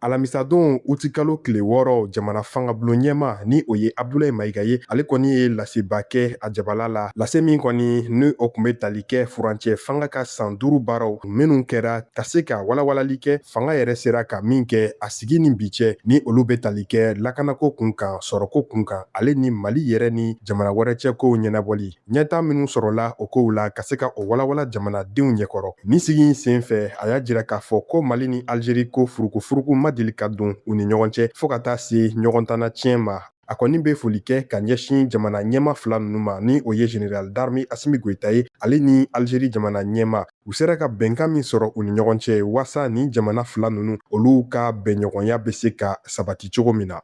alamisadon utikalo tile wɔɔrɔ jamana fangabulon ɲɛma ni o ye abdulayi mayiga ye ale kɔni ye laseba kɛ a jabala la lase min kɔni ni o kun bɛ tali kɛ furancɛ fanga ka san duuru baaraw minnu kɛra ka se ka walawalali kɛ fanga yɛrɛ sera ka min kɛ a sigi ni bi cɛ ni olu bɛ tali kɛ lakanako kun kan sɔrɔko kun kan ale ni mali yɛrɛ ni jamana wɛrɛ cɛ kow ɲɛnabɔli ɲɛtaa minnu sɔrɔla o kow la ka se ka o walawala jamanadenw ɲɛkɔrɔ nin sigi in sen fɛ a y'a jira k'a fɔ ko mali ni algerie ko furukufuruku ma deli ka don u ni ɲɔgɔn cɛ fɔɔ ka taa se ɲɔgɔn tana tiɲɛ ma a kɔni bɛ foli kɛ ka ɲɛsin jamana ɲɛma fila ninnu ma ni o ye general d'armee asimi goyita ye ale ni algerie jamana ɲɛma u sera ka bɛnkan min sɔrɔ u ni ɲɔgɔn cɛ waasa ni jamana fila ninnu olu ka bɛnɲɔgɔnya bɛ se ka sabati cogo min na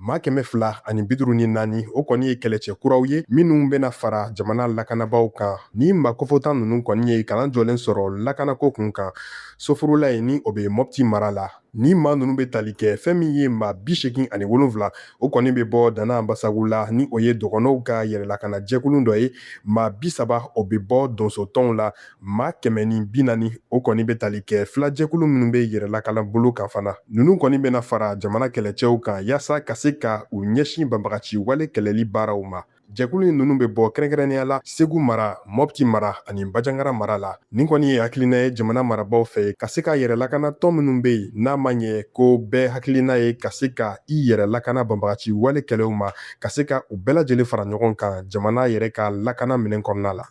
Maa kɛmɛ fila ani biduru ni naani o kɔni ye kɛlɛcɛ kuraw ye minnu bɛna fara jamana lakanabaaw kan ni maa kofɔta ninnu kɔni ye kalan jɔlen sɔrɔ lakanako kun kan sofurulaye ni o bɛ mɔpti mara la ni maa ninnu bɛ tali kɛ fɛn min ye maa bi segin ani wolonfila o kɔni bɛ bɔ dana anbasagu la ni o ye dɔgɔnɔw ka yɛrɛlakanajɛkulu dɔ ye maa bi saba o bɛ bɔ donsotɔnw la maa kɛmɛ ni bi naani o kɔni bɛ tali kɛ filajɛkulu minnu bɛ yɛrɛlakana bolo kan fana ninnu kɔni bɛna fara jamana kɛlɛcɛw kan yaasa ka se ka u ɲɛsin banbagaci wale kɛlɛli baaraw ma jɛkulu in ninnu bɛ bɔ kɛrɛnkɛrɛnnenya la segu mara mɔpti mara ani bajangara mara la nin kɔni ye hakilina ye jamana marabaaw fɛ ka se ka yɛrɛ lakana tɔn minnu bɛ yen n'a ma ɲɛ ko bɛɛ hakilina ye ka se ka i yɛrɛ lakana banbagaci wale kɛlɛw ma ka se ka u bɛɛ lajɛlen fara ɲɔgɔn kan jamana yɛrɛ ka lakana minɛn kɔnɔna la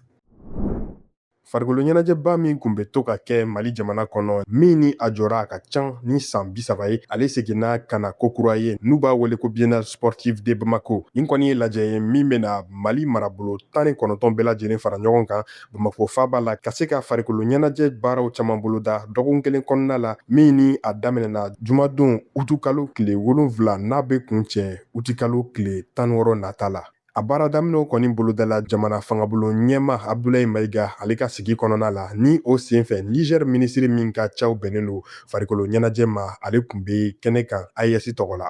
farikolo ɲɛnajɛba min kun bɛ to ka kɛ mali jamana kɔnɔ min ni a jɔra a ka can ni san bisaba ye ale seginna ka na kokura ye n'u b'a wele ko biennale sportive de bamako nin kɔni ye lajɛ ye min bɛna mali marabolo tan ni kɔnɔntɔn bɛɛ lajɛlen fara ɲɔgɔn kan bamako faaba la ka se ka farikolo ɲɛnajɛ baaraw caman boloda dɔgɔkun kelen kɔnɔna la min ni a daminɛna jumadon utukalo tile wolonfila n'a bɛ kuncɛ utikalo tile tan wɔɔrɔ nata la A baara daminɛ kɔni bolodala jamana fangabulon ɲɛma Abudulayi Mayiga ale ka sigi kɔnɔna la ni o senfɛ Niger minisiri min ka caw bɛnnen don farikolo ɲɛnajɛ ma ale tun bɛ kɛnɛ kan AES tɔgɔ la.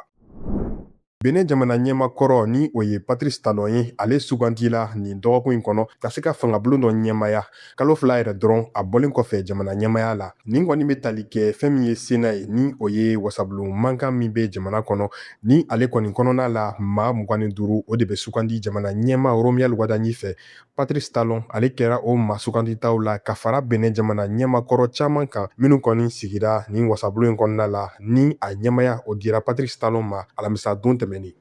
Benin jamana ɲɛma kɔrɔ ni o ye Patrice Talon ye ale sugandila nin dɔgɔkun in kɔnɔ ka se ka fangabulon dɔ ɲɛmaya kalo fila yɛrɛ dɔrɔn a bɔlen kɔfɛ jamana ɲɛmaya la nin kɔni bɛ tali kɛ fɛn min ye sena ye ni o ye wasabulon mankan min bɛ jamana kɔnɔ ni ale kɔni kɔnɔna la maa mugan ni duuru o de bɛ sugandi jamana ɲɛma romuald wadagni fɛ patrice talon ale kɛra o maa suganditaw la ka fara benin jamana ɲɛma kɔrɔ caman kan minnu kɔni sigira nin wasabulon in kɔnɔna la ni a ɲɛmaya o dira patrice talon ma alamisa don tɛmɛnen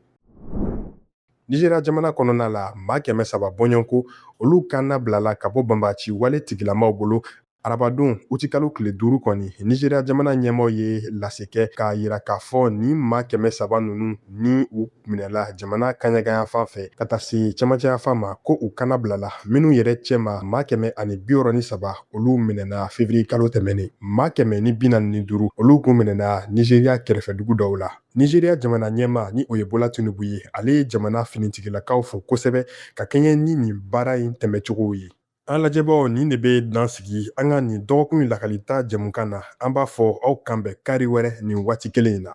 Nizeriya jamana kɔnɔna la maa kɛmɛ saba bɔɲɔgɔnko olu kan nabilala ka bɔ banbagaci wale tigilamaw bolo arabadon utikalo tile duuru kɔni nizeriya jamana ɲɛmaaw ye lase kɛ k'a yira k'a fɔ nin maa kɛmɛ saba ninnu ni u minɛla jamana kaɲagayanfan fɛ ka taa se cɛmancɛyanfan ma ko u kan nabilala minnu yɛrɛ cɛma maa kɛmɛ ani biwɔrɔ ni saba olu minɛna fevriye kalo tɛmɛnen maa kɛmɛ ni binaani ni duuru olu kun minɛna nizeriya kɛrɛfɛdugu dɔw la Nizeriya jamana ɲɛmaa ni o ye Bola Tinubu ye, ale ye jamana finitigilakaw fo kosɛbɛ ka kɛɲɛ ni nin baara in tɛmɛcogow ye. An lajɛbaaw, nin de bɛ dan sigi an ka nin dɔgɔkun in lakalita jɛmukan na. An b'a fɔ aw k'an bɛn kari wɛrɛ nin waati kelen in na.